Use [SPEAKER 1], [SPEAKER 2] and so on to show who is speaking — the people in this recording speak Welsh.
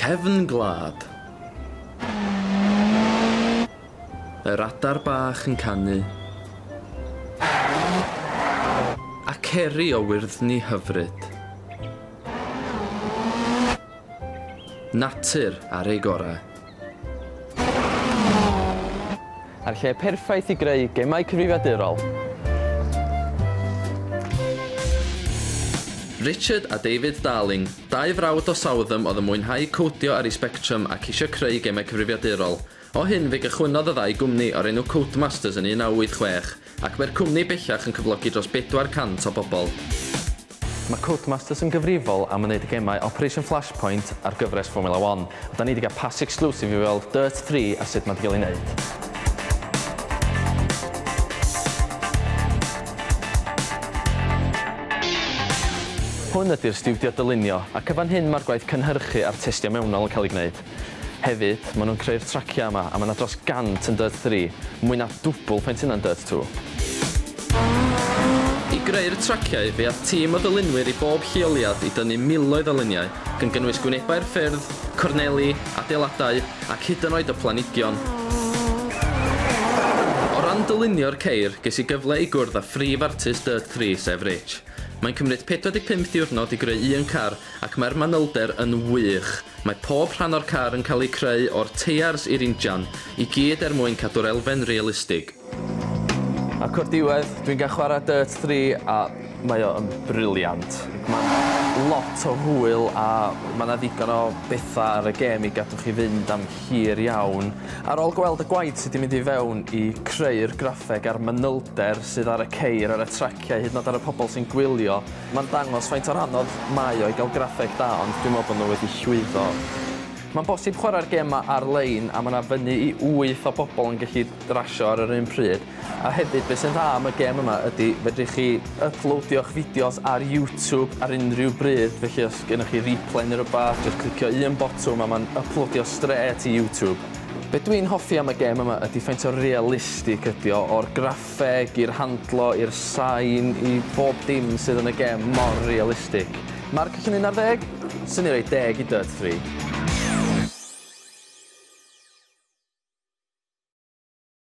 [SPEAKER 1] Cefn gwlad. Yr adar bach yn canu. A ceri o wyrddni hyfryd. Natur ar ei gorau.
[SPEAKER 2] A'r lle perffaith i greu gemau cyfrifiadurol!
[SPEAKER 1] Richard a David Darling, dau frawd o Southam oedd yn mwynhau codio ar eu Spectrum ac eisiau creu gemau cyfrifiadurol. O hyn fe gychwynnodd y ddau gwmni o'r enw Codemasters yn 1986. Ac mae'r cwmni bellach yn cyflogi dros 400 o bobl. Mae
[SPEAKER 2] Codemasters yn gyfrifol am wneud y gemau Operation Flashpoint a'r gyfres Formula One, a 'da ni 'di cael pass exclusive i weld Dirt 3 a sut mae 'di cael ei wneud. Hwn ydy'r stiwdio dylunio, ac yn fan hyn mae'r gwaith cynhyrchu a'r testio mewnol yn cael ei gwneud. Hefyd, maen nhw'n creu'r traciau yma, a mae 'na dros 100 yn Dirt Three, mwy na dwbl faint hynna'n Dirt Two.
[SPEAKER 1] I greu'r traciau, fe aeth tîm o ddylunwyr i bob lleoliad i dynnu miloedd o luniau, gan gynnwys gwynebau'r ffyrdd, corneli, adeiladau, ac hyd yn oed y planhigion. O ran dylunio'r ceir, ges i gyfle i gwrdd â phrif artist Dirt Three, sef Rich. Mae'n cymryd 45 diwrnod i greu un car, Ac mae'r manylder yn wych! Mae pob rhan o'r car yn cael eu creu o'r teiars i'r injan, i gyd er mwyn cadw'r elfen realistig.
[SPEAKER 2] Ac o'r diwedd, dwi'n cael chwarae Dirt 3 a mae o yn brilliant. Mae'n lot o hwyl a mae 'na ddigon o bethau ar y gêm i gadw chi fynd am hir iawn. Ar ôl gweld y gwaith sy 'di mynd i fewn i creu'r graffeg a'r manylder sydd ar y ceir ar y trac, Lle hyd yn oed ar y pobl sy'n gwylio, mae'n dangos faint o'r anodd mae o i gael graffeg da ond dwi'n meddwl bod nhw wedi llwyddo. Mae'n bosib chwarae'r gêm 'ma ar-lein a mae 'na fyny i wyth o bobl yn gallu rasio ar yr un pryd. A hefyd be' sy'n dda am y gêm yma ydi fedrwch chi yplowdio'ch fideos ar YouTube ar unrhyw bryd felly os gynnoch chi replay neu rwbath jyst clicio un botwm a mae'n yplowdio strêt i YouTube. Be' dwi'n hoffi am y gêm yma ydi faint o realistig ydi o o'r graffeg Fe gir handlo i'r sain i bob dim sydd yn y gem mor realistic. Marc allan un ar ddeg? Swn i roi deg i Dirt Three.